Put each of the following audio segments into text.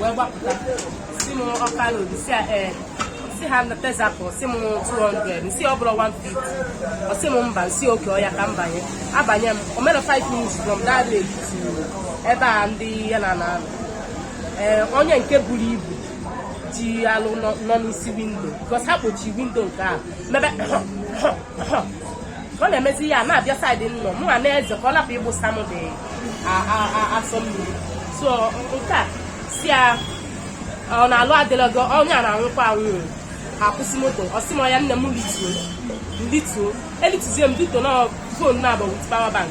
wee gbapụta si m Ọka road si ee si ha na tezapụ si m 200 m sị ọ bụrọ 150 ọ si m mba m sị okay oya ka m banye abanye m o mere 5 minutes from that day to ebe a ndị ya na na ee onye nke buru ibu ji alụ nọ n'isi windo because ha kpochi windo nke a mepe ọ na-emezi ya na-abịa side m nọ mụ na-eze ka ọ lapụ ịgbụsa m the asọ mmiri so nke a si ya ọ na alụ adịlọ gị onye a na-anwụkwa anwụ akwụsị moto ọ sị m oya nne m lituo lituo elituzie m lituo na fon na-agba with power bank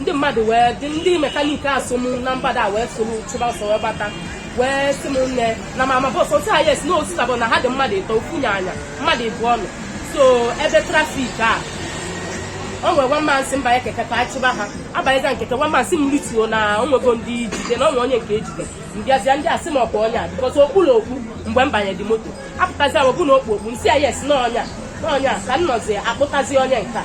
ndị mmadụ wee dị ndị mekaniki afụ nọ na mgbada wee soro chụba ọsọ wee gbata wee sị m nne na mama bọs otu ha yes na osita bụ na ha dị mmadụ ịtọ ofu onye na-anya mmadụ ịbụọ nọ so ebe trafik a o nwere nwa man sị m banye keke ka a chụba ha abanyezie m keke nwa man sị m rituo na o nwego ndị e jide na o nwe onye nke e jide m bịazịa ndị a sị m ọkwa onye a because okpu na okpu mgbe m banyere the moto apụtazi m okpu na okpu okpu m sị ya yes na ọ nya na ọ nya ka m nọzi akpụtazi onye nke a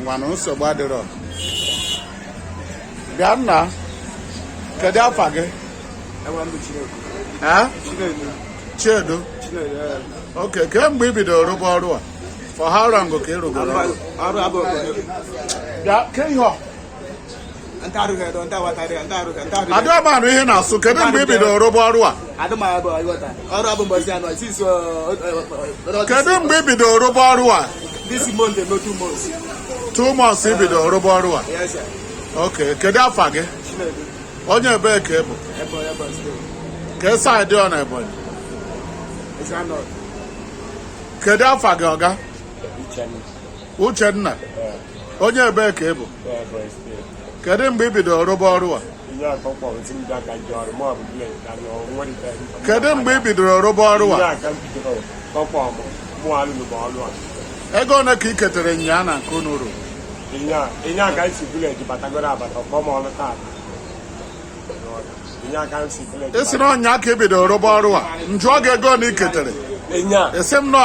ngwanụ nsogbu adịrọ bịa nna kedu afa gị Chiedu okay kemgbe ị bidoro rụba ọrụ a for how long ka ị rụgoro ọrụ bịa ke ihe adịọ m anụ ihe ị na-asụ kedu mgbe ị bidoro rụba ọrụ a kedu mgbe ị bidoro rụba ọrụ a two months ị bidoro rụba ọrụ a ok kedu afa gị onye ebee ka ị bụ ke side ọ na Ebonyi kedu afa gị oga Uchenna onye ebee ka ị bụ kedu mgbe ị bidoro rụba ọrụ a kedu mgbe ị bidoro rụba ọrụ a ego ole ka ị ketere nyaa na nke unu rụrụ ụnyaa ka m si village batagoro abata ọ kpọ m ọrụ taa ị sị na ụnyaa ka ị bidoro rụba ọrụ a m jụọ gị ego one ị ketere ị sị m nọ